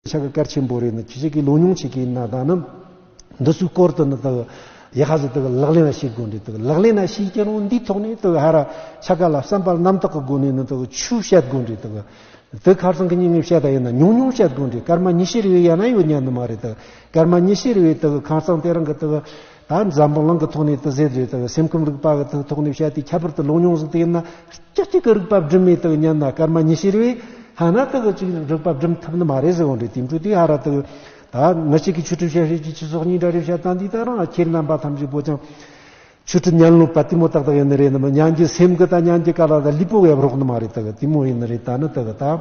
ཕྱག་གི་ཀར་ཆེན་པོ་རེ་ནི་ཁྱི་ཕྱུགས་ཀྱི་ལུག་ཉུང་བྱེད་ཀྱི་ན་བཟའ་ནི། འདི་ཚོའི་སྐོར་དུ་ནི་དག་ཡེ་ཧ་ཟི་དག་ལག་ལེན་ལ་ཤེས་དགོས་འདི་དག་ལག་ལེན་ལ་ཤེས་ཀྱི་རུང་འདིའི་ཐོག་ནས་དག་ཧ་ར་ཕྱག་ག་ལ་བསམ་པར་རྣམ་དག་གི་སྒོ་ནས་ནི་དག་ཆུ་བཤད་དགོས་འདི་དག་དེ་ཁར་སང་གི་སྙིང་ངེ་བཤད་དག་ཡིན་ན་ཉུང་ཉུང་བཤད་དགོས་འདི་སྐར་མ་ཉི་ཤེར་བས་ཡང་ན་ཡོད་ཉན་ནི་མ་རེད་དག་སྐར་མ་ཉི་ཤེར་བས་དག་ཁང་སང་དེ་རང་གི་དག་ད་འཛམ་བུ་གླིང་གི་ཐོག་ནས་ཏི་ཟེར་བཟོས་དང་སེམས་ཁམས་རིག་པ་གི་ཐོག་ནས་བཤད་དེ་ཁྱད་པར་དུ་ལུང་རྙོང་གཟུགས་དེ་ཡིན་ན་སྐྱ་གཅིག་གི་རིག་པ་སྒྲིམ་མེད་དུ་ཉན་ན་སྐར་མ་ཉི་ཤེར་བས་ཧ་ན་ཏི་གི་གཅིག་རིག་པ་སྒྲིམ་ཐུབ་ནི་མ་རེད་ཟེར་བ་འདྲའི་དེང་དྲུག་དེ་ཧ་ར་ཏི་ད་མི་གཅིག་གིས་ཆོས་གྲུབ་བྱ་ཤེས་ཀྱི་ཕྱི་སོག་གཉིས་འདྲ་རེད་བཤད་སྟངས་འདི་ལྟར་ང་ཁྱེད་རྣམ་པ་ཐམས་ཅད་པོ་ཅང་ཆོས་གྲུབ་ཉན་ལོ་པ་དེ་མོ་ཏག་ཏག་ཡིན་ནི་རེད་ནི་མི་ཉན་རྒྱུ་སེམས་གི་ད་ཉན་རྒྱུ་ག་ལ་ད་ལུས་པོ་བས་རོགས་ནི་མ་རེད་ཏི་གི་དེ་མོ་ཡིན་ནི་རེད་ད་ནི་ཏི་གི་ད།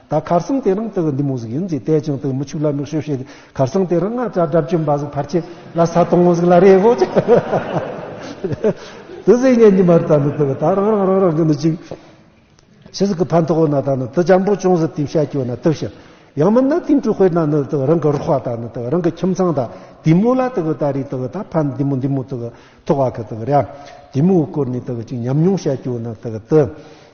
ད་གར་སང་དེ་རང་དག་འདི་མོ་ཟིག་ཡིན་ཅེས་བལྟས་ཀྱང་དག་མི་ཆུག་ལ་མིག་ཤོད་ཤོད་དེ་གར་སང་དེ་རང་ང་ཅག་དགྲ་བཅོམ་པ་ཟིག་ཕར་ཆས་ལ་ས་དང་མོ་ཟིག་ལ་རེ་བོ་ཅིག་དུ་ཟིག་ཉན་གྱི་མ་རེད་ད་ནི་དག་ད་རང་རང་རང་རང་གི་ནི་ཅིག་ཆི་ཟིག་གི་ཕ་མཐོ་བོ་ན་ད་ནི་དུ་ལྗང་པོ་ཅུང་ཟད་དེ་བཤད་ཀྱི་བ་ན་དག་ཤི་ཡང་མིན་ན་དེང་དྲུག་དཔེར་ན་ནི་དག་རང་གི་རོགས་པ་ད་ནི་དག་རང་གི་ཁྱིམ་ཚང་ད་དེ་མོ་ལ་དག་ད་རེས་དག་ད་ཕ་འདི་མོ་འདི་མོ་དག་ཐོག་བ་གི་དག་རེ་ཨ་དེ་མོ་བསྐོར་ནས་དག་ཅིག་ཉམས་མྱོང་བཤད་ཀྱི་བ་ན་དག་དུ།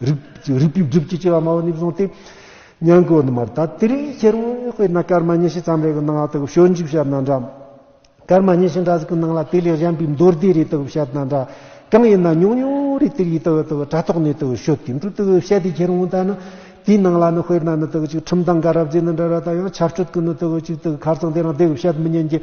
རིགས་པའི་སྒྲིབ་ཀྱི་ལྕི་བ་མ་བུ་ནས་བཟུང་སྟེ། གཉན་གོ་ནི་མར་དད་དེ་རིགས་ཁྱེར་བས་དཔེར་ན་སྐར་མ་ཉི་ཤུ་ཙམ་རེ་གི་སྣང་ལ་དག་བྱོས་འཇིགས་བྱེད་ན་འདྲ། སྐར་མ་ཉི་ཤུ་འདྲ་ཟིག་གི་སྣང་ལ་དེ་ལས་གཞན་པའི་མདོར་བསྡུས་རེ་དག་བྱེད་ན་འདྲ། གང་ཡིན་ན་ཉུང་ཉུང་རེ་དེ་རིགས་དག་དག་དྲ་ཐོག་ནས་དག་བྱོས་དེ་འདྲུ་དག་བྱེད་དེ་ཁྱེར་འོང་ལྟ་ན། དེའི་སྣང་ལ་ནི་དཔེར་ན་ནི་དག་ཅིག་ཁྲིམས་དང་དགའ་རབ་རྫས་ནི་འདྲ་ར་དག་ཡང་ཆར་ཆུ་དག་ནི་དག་ཅིག་དག་གར་ཚང་དེ་རང་དེ་བྱེད་མི་ཉན་གྱི།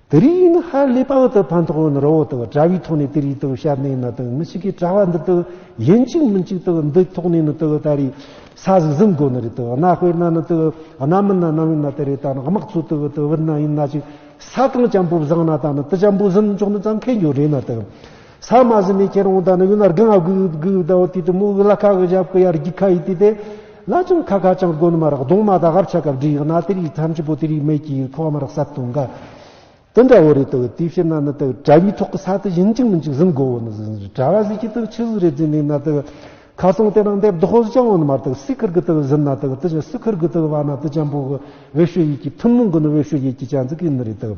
དེ་རིང་ཡིན་ན་ཧ་ལས་པ་འོག་ཏུ་ཕན་ཐོགས་ཡོད་ན་རོ་འོག་ཏུ་དྲ་བའི་ཐོག་ནས་དེ་རིགས་དུ་བཤད་ནས་ན་དང་མི་ཞིག་གིས་དྲ་བ་འདི་དུ་ཡིན་གཅིག་མིན་གཅིག་དུ་འདི་ཐོག་ནས་ན་དུ་ད་རེས་ས་ཟིག་ཟིན་དགོས་ནི་རེད་དུ་གནའ་དཔེར་ན་ན་དུ་གནའ་མི་ན་ནམ་ཡིན་ན་དེ་རེས་ད་ན་དམག་ཚོ་དུ་དུ་བུད་ན་ཡིན་ན་ཅིག་ས་གང་བྱམས་པོ་བཟང་ན་ད་ན་དུ་བྱམས་པོ་ཟིན་ཆོག་ནི་ཙང་ཁེ་འགྱོ་རེད་ན་དུ། ས་མ་ཟི་མི་ཁྱེར་འོང་དང་ནི་ཡུལ་ན་རྒན་ཨ་གུ་ཡུ་གུ་ཡུ་དའོ་དུས་དུ་མུ་གུ་ལ་ཁ་གི་ཞབས་གུ་ཡར་རྒྱུག་ཁ་ཡི་དུས་དེ། ལ་ཅུང་ཁ་ཁ་ཅང་གོན་མ་རག་གདོང་མ་དག་ཧབ་ཆ་གབ་འདྲི་ཡག་ན་དེ་རིགས་ཐམས་ཅད་པོ་དེ་རིགས་མེད་ཀྱི་ཁོག་མ་རག་སར་དུང་ག། དུ་འདྲ་བོ་རེད་དུ་དུས་ཕྱིར་ན་ནི་དུ་དྲ་བའི་ཐོག་གི་ས་དུ་བཞིན་གཅིག་མིན་གཅིག་ཟིན་གོ་བོ་ནི་ཟིན་ཟིན་དྲ་བ་ཟིག་གི་དུ་ཆུ་ཟིག་རེ་རྫི་འདུག་ན་དུ། ཁ་ཚོང་དེ་རང་འདེབས་དོག་ཟིག་ཅང་འོན་མ་རྟག་སི་ཁུར་གི་དུ་ཟིན་ན་དུ་དུ་ཆུ་སི་ཁུར་གི་དུ་བ་ན་དུ་ཅང་པོ་གི་འོད་ཤུ་ཡིག་གི་ཐུན་མོང་གི་ནི་འོད་ཤུ་ཡིག་གི་ཅང་ཙི་གི་ནི་རེད་དུ།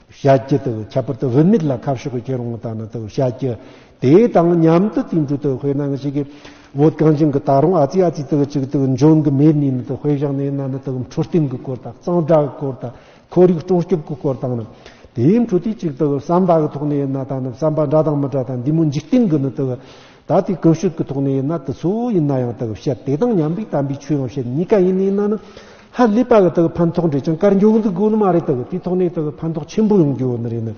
བྱ་རྒྱུ་དང་ཁྱད་པར་དུ་བུད་མེད་ལ་ཁ་ཕྱོགས་ཀྱི་ཁྱེད་རང་ལྟ་ན་དང་བྱ་རྒྱུ་དེ་དང་མཉམ་དུ་དུས་འགྲོ་དང་དཔེར་ན་ང་ཞིག་གིས་བོད་གངས་ཅན་གྱི་ད་རུང་ཨ་ཙི་ཨ་ཙི་དང་གཅིག་དང་འབྱུང་གི་མེད་ནུས་ན་དང་དཔེ་བཞག་ནས་ན་ན་དང་འཕྲོད་བསྟེན་གྱི་སྐོར་དང་གཙང་སྦྲ་གི་སྐོར་དང་ཁོར་ཡུག་སྲུང་སྐྱོབ་ཀྱི་སྐོར་དང་ནི་དེའི་འཕྲོད་བསྟེན་གཅིག་དང་བསམ་པ་གི་ཐོག་ནས་ན་ད་ནི་བསམ་པ་འདྲ་དང་མི་འདྲ་དང་འདི་མོ་འཇིག་རྟེན་གྱི་ནི་དང། ད་ལྟའི་སྐུ་བཤུས་ཀྱི་ཐོག་ནས་ཡིན་ན་དེ་ཚོ་ཡིན་ན་ཡང་དག་བཤད་དེ་དང་མཉམ་པའི་དམ་པའི་ཆོས་ཡང་བཤད་གཉིས་ཀ་ཡིན་ནི་ཡིན་ན་ནི་ཧ་ལས་པ་གི་དག་ཕན་ཐོགས་འབྲས་ཀྱང་དཀར་འགྱུར་འདུག་དགོས་ནི་མ་རེད་དག་དེའི་ཐོག་ནས་དག་ཕན་ཐོགས་ཆེན་པོ་ཡོང་རྒྱུ་ནི་རེད་ནི།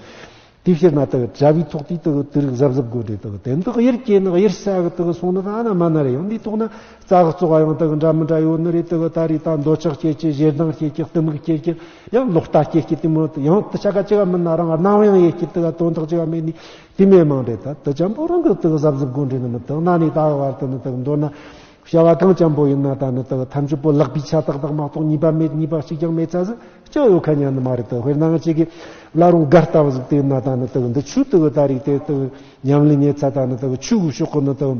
དེ་ཕྱིར་ན་དག་གྲྭ་བའི་ཐོག་དེའི་དག་དུས་རིག་གཟབ་གཟབ་དགོས་འབྲས་དག་དེ་འདི་གཡེར་སྐྱེས་ནི་གཡེར་ས་གི་དག་སོང་ནི་ད་ན་མ་ན་རེ་ཡང་དེའི་ཐོག་ན་རྩ་གཙོ་བ་ཡང་དག་འདྲ་མི་འདྲ་ཡོད་ནི་རེད་དག་ད་རེས་ད་འདོད་ཆགས་སྐྱེས་ཀྱི་ཞེ་སྡང་སྐྱེས་ཀྱི་གཏི་མུག་སྐྱེས་ཀྱི་ཡང་ལོག་ལྟ་སྐྱེས་ཀྱི་དེ་མོད་ཡང་དུ་ཆ་ག་ཅི་ག་མིན་ན་རང་སྣང་ཡང་ཡེ་ཤེས་དག་དོན་དག་ཅི་ག་མེད་ནས་དེ་མེད་མང་པའི་ད་ད་ཅམ་པོ་རང་གི་དག་ཟབ་ཟབ་དགོངས་འགྲེལ་ནི་མི་དག་ན་ནི་དག་བར་དུ་ནི་དག་མདོར་ན། བྱ་བ་གང་ཅམ་པོ་ཡིན་ན་ད་ནི་དག་ཐམས་ཅད་པོ་ལག་པའི་ཆ་དག་དག་མ་གཏོགས་གཉིས་པ་མེད་གཉིས་པ་གཅིག་ཀྱང་མེད་ཚ་ཟིག་ཅིག་ཡོད་ག་ཉན་ནི་མ་རེད་དོ་དཔེར་ན་ང་གཅིག་གིས་བླ་རུང་སྒར་ལྟ་བུ་ཟིག་དེ་ན་ད་ནི་དག་འདི་ཆུ་དག་ད་རིགས་དེ་དག་ཉམས་ལེན་ཉེ་ཚ་ད་ནི་དག་ཆུ་གུ་ཤོག་གུ་ནི་དག།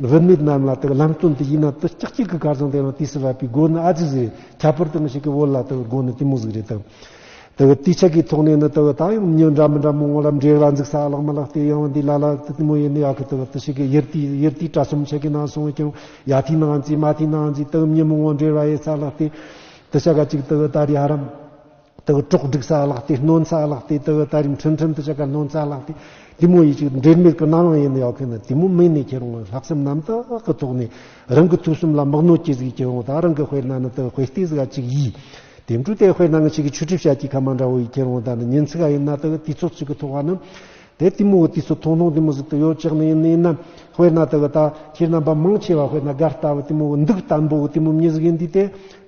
རིན་མེད་རྣམས་ལ་དང་ལམ་སྟོན་དུ་ཡིན་ན་དུ་ལྕགས་ཀྱི་གི་གར་བཟང་དེ་ཡང་དུས་སུ་བབས་པའི་སྒོ་ནི་ཨ་ཙི་ཟིག་རེད་ཁྱད་པར་དུ་མི་ཞིག་གི་བོད་ལ་དུ་སྒོ་ནི་གཏི་མུག་ཟིག་རེད་དུ། དུ་དུས་ཆད་ཀྱི་ཐོག་ནས་ནི་དུ་ད་ཡང་མྱི་འདྲ་མི་འདྲ་མོ་ངོ་ལ་འདྲེག་ལ་འཛུགས་ས་བརླག་མི་བརླག་དེ་ཡང་བ་འདི་ལ་ལ་དུ་གཏི་མུག་ཡིན་ནི་ཡག་གི་དུ་དུ་ཞིག་གི་ཡིར་དུས་ཡིར་དུས་དྲ་གསུམ་ཆད་ཀྱི་ན་སོང་ཀྱང་ཡ་དུས་ནའང་རྩིས་མ་དུས་ནའང་རྩིས་དུ་མྱི་མོ་ངོ་འདྲེ་ར་ཡེ་ས་བརླག་དེ་དུ་ཞག་ག་གཅིག་དུ་ད་རེ་ཧ་རམ། དེ་གི་གྲོགས་སྒྲིག་ས་ལགས་ཏེ་གནོན་ས་ལགས་ཏེ་དེ་གི་ད་རིང་ཁྲིམས་ཁྲིམས་དུ་ཆ་ག་གནོན་ས་ལགས་ཏེ་དེ་མོ་ཡི་ཅིག་འབྲེལ་མེད་གི་རྣ་ལོང་ཡེ་ནས་ཡོག་གི་ནི་དེ་མོ་མིག་ནས་ཁྱེར་འོང་བའི་ལྷག་བསམ་རྣམ་དག་གི་ཐོག་ནས་རང་གི་ཐུགས་གསུམ་ལ་མག་ནོ་ཅི་ཟིག་ཁྱེར་འོང་ད་རང་གི་དཔེར་ན་ནི་དེ་གི་དཔེ་ལྟས་ཟིག་ག་ཅིག་ཡིས་དེ་འཕྲུལ་དེ་དཔེར་ན་ང་ཅིག་གི་ཆུ་གྲིབ་ཤ་ཅིག་ག་མ་འདྲ་བོ་ཡིས་ཁྱེར་འོང་ད་ནི་ཉིན་ཚིག་ག་ཡིན་ན་དེ་གི་དུས་ཚོད་ཅིག་གི་ཐོག་ག་ནི་དེ་དེ་མོ་གི་དུས་ཚོད་ཐུང་ཐུང་དེ་མོ་ཟིག་ཏུ་ཡོད་ཅག་ནི་ཡིན་ནི་ཡིན་ན་དཔེར་ན་དེ་གི་ད་ཁྱེད་རྣམ་པ་མང་ཆེ་བ་དཔེར་ན་གར་ལྟ་བུ་དེ་མོ་གི་འདུག་ལྟ་འབོ་གི་དེ་མོ་མྱི་ཟིག་ཡིན་དུས་དེ་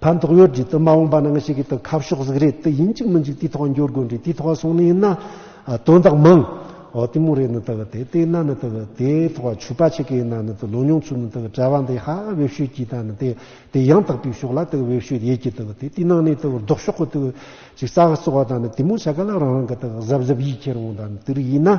ཕན་ཐོགས་ཡོད་རྒྱུ་དུ་མ་འོངས་པ་ནང་ཞིག་གི་དུ་ཁ་ཕྱོགས་གཟིགས་རེད་དུ་ཡིན་གཅིག་མི་འཇུག་དུས་ཐོག་འགྱུར་དགོས་འདྲི་དུས་ཐོག་སོང་ནི་ཡིན་ན་དོན་དག་མང་འོ་དུས་མོ་རེད་ནི་དུ་དེ་དེ་ཡིན་ན་ནི་དུ་དེ་ཐོག་ཆོས་པ་ཆེ་གི་ཡིན་ན་ནི་དུ་ལོ་མྱོང་ཚུལ་ནི་དུ་བྲལ་བ་འདི་ཧ་བེད་ཤོད་ཀྱི་དང་ནི་དེ་དེ་ཡང་དག་པའི་ཕྱོགས་ལ་དུ་བེད་ཤོད་ཡེད་ཀྱི་དུ་དེ་དུས་ནང་ནི་དུ་ལྡོག་ཕྱོགས་གི་དུ་ཅིག་ས་ག་གསོ་བ་དང་ནི་དུས་མོ་ཆ་ག་ལ་རང་རང་གི་དུ་གཟབ་གཟབ་ཡིད་ཁྱེར་འོང་དང་ནི་དུ་རིགས་ཡིན་ན།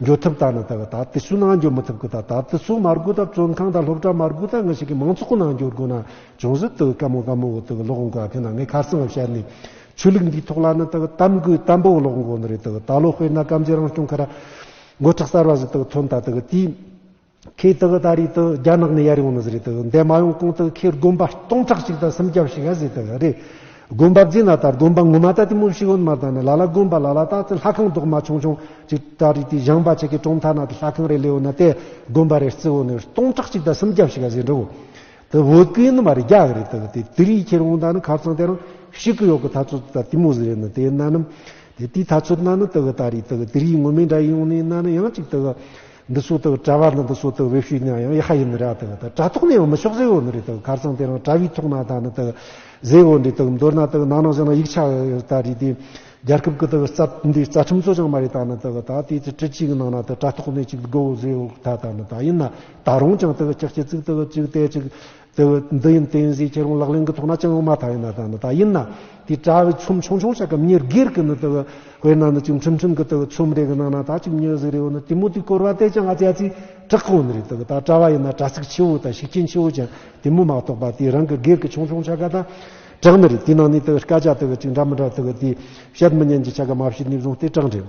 འགྱུར་ཐབས་དག་ནི་དག་གི་དག་ཏུ་སུ་ནང་འགྱུར་མི་ཐུབ་ཀི་དག་དག་ཏུ་སུ་མར་སྒུག་དག་བཙོན་ཁང་དག་སློབ་གྲྭ་མར་སྒུག་དག་ང་ཞིག་གི་མང་ཚོགས་ནང་འགྱུར་དགོས་ན་ཅུང་ཟད་དུ་དཀའ་མོ་དཀའ་མོ་བོ་དག་གི་ལོག་འགོ་གི་ནང་ངས་ཁར་སང་ངམ་ཤར་ནས་ཆོས་ལུགས་འདིའི་ཐོག་ལ་ནི་དག་གཏམ་དགོས་གཏམ་པོ་བོ་ལོག་འགོ་ནི་རེད་དག་གི་དག་ལོ་དཔེར་ན་སྐམ་རྗེ་རང་སྐྱོང་ཁ་ར་མགོ་ཁྲག་གསར་བ་བཞི་དག་ཐོན་དག་དག་གི་དུས། ཁོས་དེ་ག་ད་རེས་དེ་རྒྱ་ནག་ནས་ཡར་ཡོང་ནི་ཟེར་རེད་འདས་མ་ཡོང་གོང་དེ་ཁོས་དགོན་པ་སྟོང་ཕྲག་གཅིག་དང་སུམ་བརྒྱ་ཞིག་ཡར་བཟོས་དེ་རེད། དགོན་པ་བརྫིས་ན་ད་དགོན་པ་ངོ་མ་ད་དེ་མུ་བཞི་ཡོད་མ་ད་ནི་ལ་ལ་དགོན་པ་ལ་ལ་ད་དེ་ལྷ་ཁང་རྡོག་མ་ཆུང་ཆུང་ཅིག་ད་རེས་དེ་བཞེངས་པ་ཆེ་གེ་གྲོང་མཐའ་ན་དེ་ལྷ་ཁང་རེ་ལེའོ་ན་དེ་དགོན་པ་རེ་རྩི་འོ་ནི་སྟོང་ཕྲག་གཅིག་དང་སུམ་བརྒྱ་ཞིག་ཡར་བཟོས་འགྲོ་གོ། དེ་བོད་གི་ནི་མ་རེད་རྒྱ་གི་རེད་དེ་ག་དེ་དེ་རེས་ཁྱེར་འོང་ད་ནི་ཁ་བཙང་དེ་རང་ཞིག་གི་ཡོག་གི་ད་ཚོད་ད་དེ་མུ་ཟི་རེད་ནི་དེ་ན་ནི་དེ་དེའི་ད་ཚོད་ན་ནི་དེ་ག་ད་རེས་དེ་ག་དེ་རེས་ངོ་མས་འདྲ་ཡིན་འོང་ནི་ན་ནི་ཡང་ཅིག་དེ་ག། འདི་སུ་དག་གྲྭ་བ་ནི་འདི་སུ་དག་བེ་ཤུས་ཉང་ཡང་ཡེ་ཧ་ཡིན་ནི་ར་དག་དག་གྲྭ་ཐོག་ནས་ཡོང་མི་ཆོག་ཟེ་འོ་ནི་རེ་དག་གར་ཚང་དེ་རང་གྲྭ་བའི་ཐོག་ན་དག་ནི་དག་ཟེ་འོ་འདྲེ་དག་མདོར་ན་དག་ནང་ན་བཞག་ན་ཡིག་ཆ་དག་རེ་དེ་རྒྱལ་ཁབ་ཀི་དག་རྩ་འདི་རྩ་ཁྲིམས་གཙོ་ཅང་མ་རེ་དག་ནི་དག་དག་དེ་ཚེ་ཁྲི་གཅིག་ནང་ན་དག་གྲྭ་ཐོག་ནས་ཅིག་དགོ་འོ་ཟེ་འོ་དག་དག་ནི་དག་ཡིན་ན་དག་རང་ཅང་དག་ཅག་ཅི་ཚིག་དག་ཅིག་བལྟས་ཅིག། དེ་བས་འདི་ཡིན་བསྟན་བཞེས་ཁྱེད་རང་ལག་ལེན་གྱི་ཐོག་ན་སྤྱང་ལོ་མ་ཐག་ཡིན་ན་ད་ནི་ད་ཡིན་ན་དེ་གྲྭ་བའི་ཚོམས་ཆུང་ཆུང་བྱ་སྐབས་ཉེར་སྒེར་གྱི་ནི་དེ་བས་དཔེར་ན་ནི་ཅིག་འཕྲིན་ཕྲན་གྱི་དེ་བས་ཚོམས་རེ་གི་ནང་ན་ད་ཅིག་མྱོས་བཟི་རེ་བ་ནི་དེ་མོ་དེ་བསྐོར་བ་བལྟས་ཀྱང་ཨ་ཅག་ཚེ་དྲག་གི་བ་ནི་རེད་དེ་བས་ད་གྲྭ་བ་ཡིན་ན་དྲ་ཚིགས་ཆེ་བོ་དང་ཤུགས་རྐྱེན་ཆེ་བོ་ཅན་དེ་མོ་མ་གཏོགས་པ་དེ་རང་གི་སྒེར་གྱི་ཆུང་ཆུང་བྱ་དགའ་དང་དྲག་ནི་རེད་དེའི་ནང་ནས་དེ་བས་སྐད་ཆ་དེ་བས་ཅིག་འདྲ་མི་འདྲ་དེ་བས་དེ་བཤད་མི་ཉན་གྱི་བྱ་དགའ་མ་བྱས་ནས་བཟུང་སྟེ་དྲག་འགྲིག།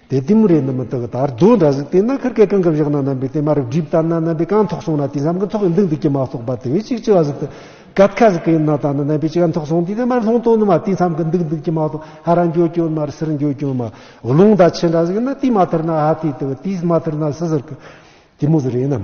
དེ་ལྟས་མོ་རེད་ནི་མི་དག་དར་རྡོ་འདྲ་ཟིག་དེ་ན་ཁར་སྐད་གང་གི་བཞག་ན་རྣམ་པའི་དེ་མ་རབ་སྒྲིབ་ལྟར་ན་རྣམ་པའི་གང་ཐོག་སོང་ན་དེ་བསམ་གི་ཐོག་གི་མདུང་དེ་ཀྱི་མ་གཏོགས་པ་དེ་བས་ཅིག་ཅི་བ་ཟིག་དུ་གད་ཁ་ཟིག་གི་ཡིན་ན་ད་ནི་རྣམ་པའི་ཅི་གང་ཐོག་སོང་དུས་དེ་མར་ལྷོང་དོ་ནི་མ་དེ་བསམ་གི་མདུག་མདུག་ཀྱི་མ་གཏོགས་ཧ་ར་འགྱོ་གྱོ་མར་སིར་འགྱོ་གྱོ་མ་རླུང་ད་ཆེ་འདྲ་ཟིག་ཡིན་ན་དེ་མ་ཐར་ན་ཧ་དེ་དེ་བ་དེས་མ་ཐར་ན་སི་ཟིར་གི་དེ་མོ་ཟི་རེད་ནམ།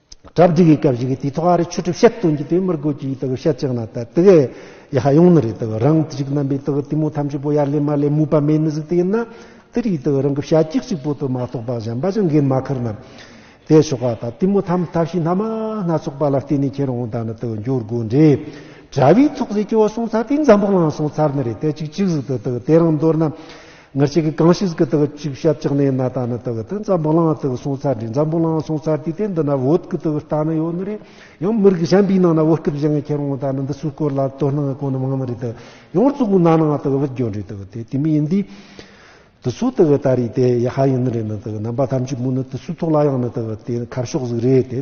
གྲ་བསྒྲིགས་ཡི་ག་བཞི་གི་དུས་ཐོག་ཨ་རི་ཆོས་གྲུབ་བཤད་སྟོན་གྱི་དུས་མིར་དགོས་ཀྱི་ཡི་ག་བཤད་ཅིག་ནང་དད་གི་ཡི་ག་ཡོང་ནི་རེད་དག་རང་གི་ཅིག་རྣམ་པའི་དག་གཏི་མུག་ཐམས་ཅད་པོ་ཡར་ལེན་མར་ལེན་མུས་པ་མེད་ནི་ཟིག་དེ་ཡིན་ན་དེ་རིགས་དག་རང་གི་བྱ་གཅིག་ཅིག་པོ་དུ་མ་རྟོགས་པ་གཞན་པ་ཅང་འགན་མ་ཁུར་ན། དེས་ཆོག་ག་དག་གཏི་མུག་ཐམས་ཐབས་ཤེས་སྣ་མང་སྣ་ཚོགས་པ་ལ་བརྟེན་ནས་ཁྱེད་རང་དང་ནི་དག་འགྱུར་དགོས་འདྲའི་གྲ་བའི་ཚོགས་ཟེར་གྱི་བ་སོང་ཚར་དེ་འཛམ་བུ་གླང་སོང་ཚར་ནི་རེད་དད་ཅིག་ཅིག་ཟིག་དུ་དག་དེ་རང་མདོར་ན། ངར་ཅིག་གིས་གང་ཞིག་གི་དག་ཅིག་བྱབ་ཅག་ནའི་ན་ད་ནི་དག་ཏི་འཛམ་བུ་གླང་དག་སོང་ཚར་དྲི་འཛམ་བུ་གླང་སོང་ཚར་དུས་དེ་འདི་ན་བོད་ཀི་དག་རྟ་ནི་ཡོད་ནི་རེད་ཡང་མི་རིགས་གཞན་པའི་ནང་ན་བོད་སྐད་བཞེངས་མཁན་རང་ད་ནི་འདི་སུ་སྐོར་ལ་དོ་སྣང་གོ་ནི་མང་ནི་རེད་དག་ཡང་གཙུག་གུ་ན་ནང་དག་བིད་འགྱོ་འདྲི་དག་དེ་དེ་མི་ཡིན་དུས་དུ་སུ་དག་ད་རེད་དེ་ཡ་ཧ་ཡིན་ནི་རེད་ནི་དག་རྣམ་པ་ཐམས་ཅད་མུ་ནི་དུ་སུ་ཐོག་ལ་ཡང་ནི་དག་དེ་ཁ་ཕྱོགས་ཟིག་རེད་དེ།